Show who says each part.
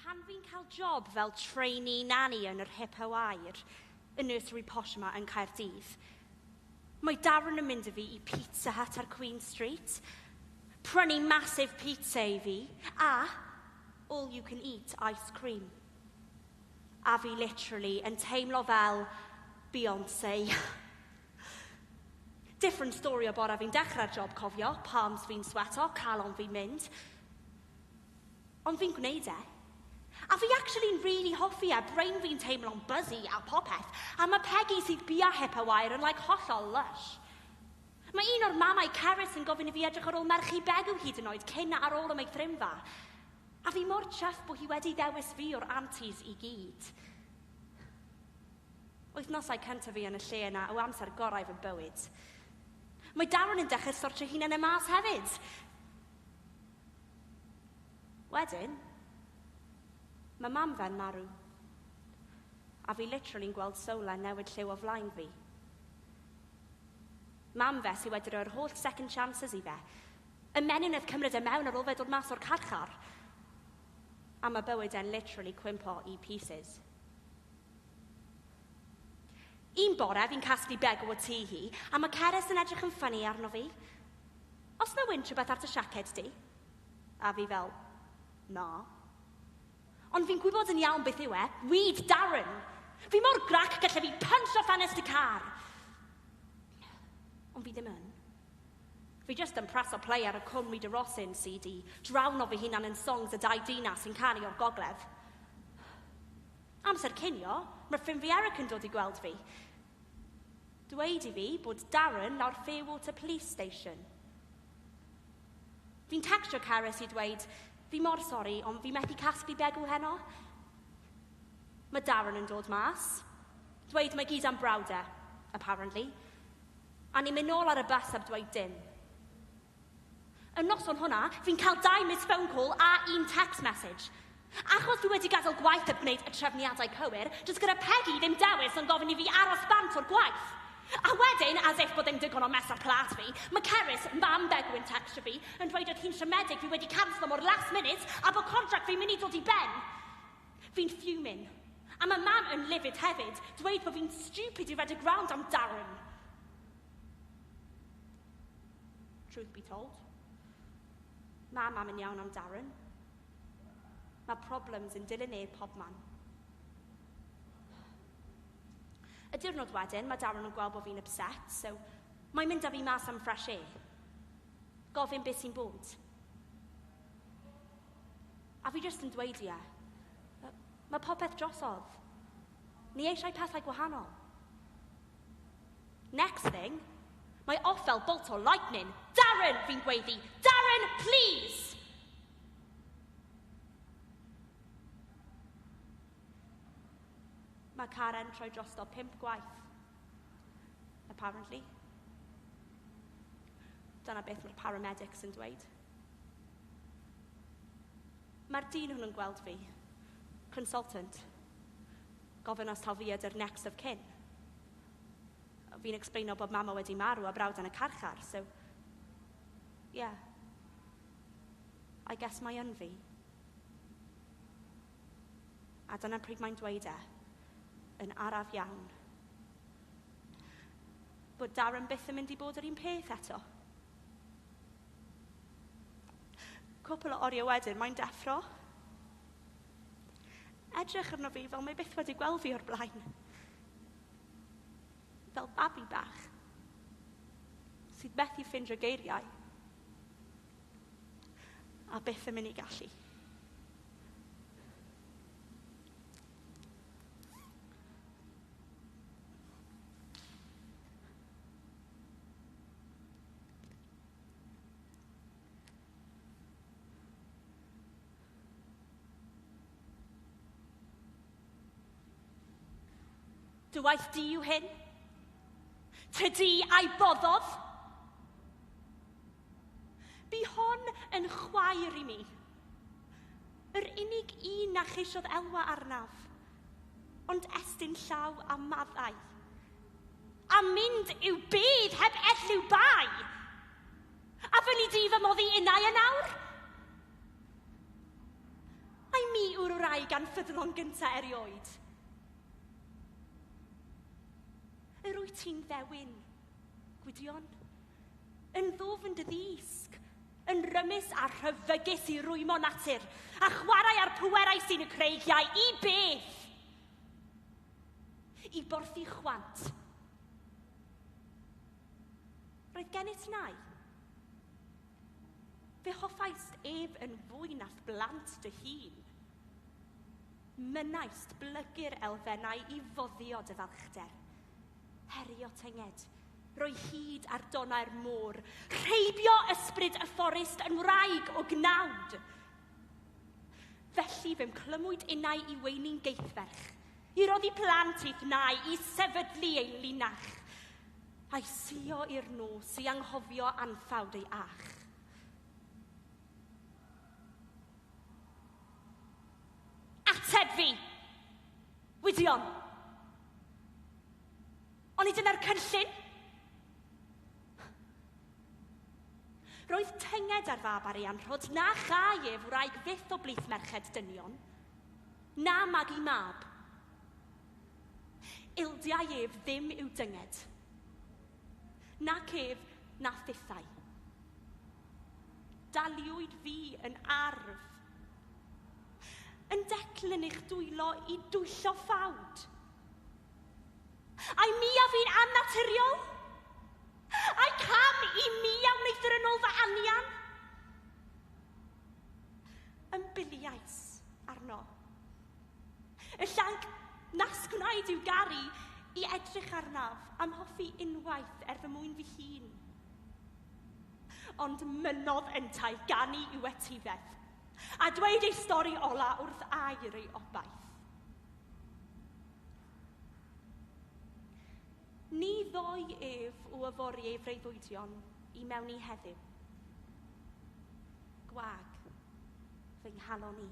Speaker 1: Pan fi'n cael job fel trainee nanny yn yr Hippo Air, y nursery posh yma yn Caerdydd, mae Darren yn mynd â fi i Pizza Hut ar Queen Street, prynu massive pizza i fi, a all you can eat ice cream. A fi literally yn teimlo fel Beyonce. Different story o bore fi'n dechrau'r job cofio, palms fi'n sweto, calon fi'n mynd. Ond fi'n gwneud e. A fi actually'n really hoffi e, brain fi'n teimlo'n buzzy a popeth, a ma' Peggy sydd bia hip a wair yn like hollol lush. Mae un o'r mamau cerys yn gofyn i fi edrych ar ôl merchu Begw hyd yn oed cyn a ar ôl am ei thrimfa. A fi mor chuffed bo hi wedi ddewis fi o'r aunties i gyd. Wythnosau cyntaf fi yn y lle yna yw amser gorau fy bywyd. Mae Darren yn dechrau sortio hunan e mas hefyd. Wedyn, mae mam fe'n marw. A fi literally'n gweld solar newid lliw o flaen fi. Mam fe sydd wedi rhoi'r holl second chances i fe. Y menyw nef cymryd e mewn ar ôl fe dod mas o'r carchar. A mae bywyd e'n literally cwympo i pieces. Un bore, fi'n casglu begw o tŷ hi, a mae Ceres yn edrych yn ffynnu arno fi. Os na wynt rhywbeth ar dy siaced di? A fi fel, na. Ond fi'n gwybod yn iawn beth yw e, weed Darren! Fi mor grac gallai fi punch o ffenest y car! Ond fi ddim yn. Fi just yn preso play ar y Cwm Rita Rosin CD, drawno fy hunan yn songs y dau dina sy'n canu o'r gogledd. Amser cinio, mae ffrind fi Eric yn dod i gweld fi. Dweud i fi bod Darren lawr Fairwater Police Station. Fi'n tecstio Cerys i dweud, fi mor sori, ond fi methu casglu begw heno. Mae Darren yn dod mas. Dweud mae gyd am brawd e, apparently. A ni'n mynd nôl ar y bus heb dweud dim. Y noson hwnna, fi'n cael dau missed phone call a un text message. Achos fi wedi gadael gwaith heb gwneud y trefniadau cywir, does gyda Pegi ddim dewis ond gofyn i fi aros bant o'r gwaith. A wedyn, as if bod e'n digon o mess ar plât fi, mae Cerys, mam Begw yn tecstio fi yn dweud oedd hi'n siomedig fi wedi canslo mor last minute a bod contract fi'n mynd i dod i ben! Fi'n fuming. A mae mam yn livid hefyd, dweud bod fi'n stupid i redeg rownd am Darren. Truth be told. Mae mam yn iawn am Darren. Mae problems yn dilyn e pob man. Y diwrnod wedyn, mae Darren yn gweld bod fi'n upset, so mae'n mynd â fi mas am fresh air. Gofyn beth sy'n bod. A fi jyst yn dweud ie. Mae popeth drosodd. Ni eisiau pethau gwahanol. Next thing, mae off fel bolt o lightning. Darren, fi'n gweiddi! Darren, please! Mae Karen troi drosto pimp gwaith. Apparently. Dyna beth mae'r paramedics yn dweud. Mae'r dyn hwnnw'n gweld fi. Consultant. Gofyn os taw fi ydy'r next of kin. Fi'n explaino bod mama wedi marw a brawd yn y carchar, so... Ie. I guess mai yn fi. A dyna pryd mae'n dweud e, yn araf iawn, bod Darren byth yn mynd i bod yr un peth eto. Cwpl o oriau wedyn, mae'n deffro. Edrych arno fi fel mae byth wedi gweld fi o'r blaen. Fel babi bach. Sydd methu ffind y geiriau. A byth yn mynd i gallu. Dy waith di yw hyn? Tydi a'i boddodd? Bu hon yn chwaer i mi. Yr unig un na cheisiodd elwa arnaf, ond estyn llaw a maddau. A mynd i'w byd heb elliw bai! A fyny di fy moddi innau yn awr? Ai mi yw'r wraig anffyddlon gynta erioed? Yr wyt ti'n ddewin, Gwydion, yn ddwfn dy ddisg, yn rymus a rhyfygus i rwymo natur, a chwarae ar pwerau sy'n y creigiau i beth? I borthu chwant. Roedd gennyt nai. Fe hoffaist ef yn fwy na'th blant dy hun. Mynnaist blygu'r elfennau i foddio dy falchder. Herio tynged, roi hyd ar donau'r môr, rheibio ysbryd y fforest yn wraig o gnawd. Felly fe'm clymwyd innau i weini'n geithferch, i roddi plant i'th nai, i sefydlu ein linach. A'i suo i'r nos i anghofio anffawd ei ach. Ateb fi! Gwydion! Oni dyna'r cynllun? Roedd tynged ar fab ar ei anrhod na chai ef wraig fyth o blith merched dynion. Na magu mab. Ildiau ef ddim i'w dynged, nac ef na thithau. Daliwyd fi yn arf. Yn decl yn eich dwylo i dwyllo ffawd. Ai mi a fi'n annaturiol? Ai cam i mi a wneithir yn ôl fy anian? Ymbiliais arno. Y llanc nas gwnaed i'w garu i edrych arnaf am hoffi unwaith er fy mwyn fy hun. Ond mynnodd yntau ganu i'w etifedd, a dweud ei stori ola wrth air ei obaith. Ni ddoi ef o yfori ei freuddwydion i mewn i heddiw. Gwag, fy nghalon i.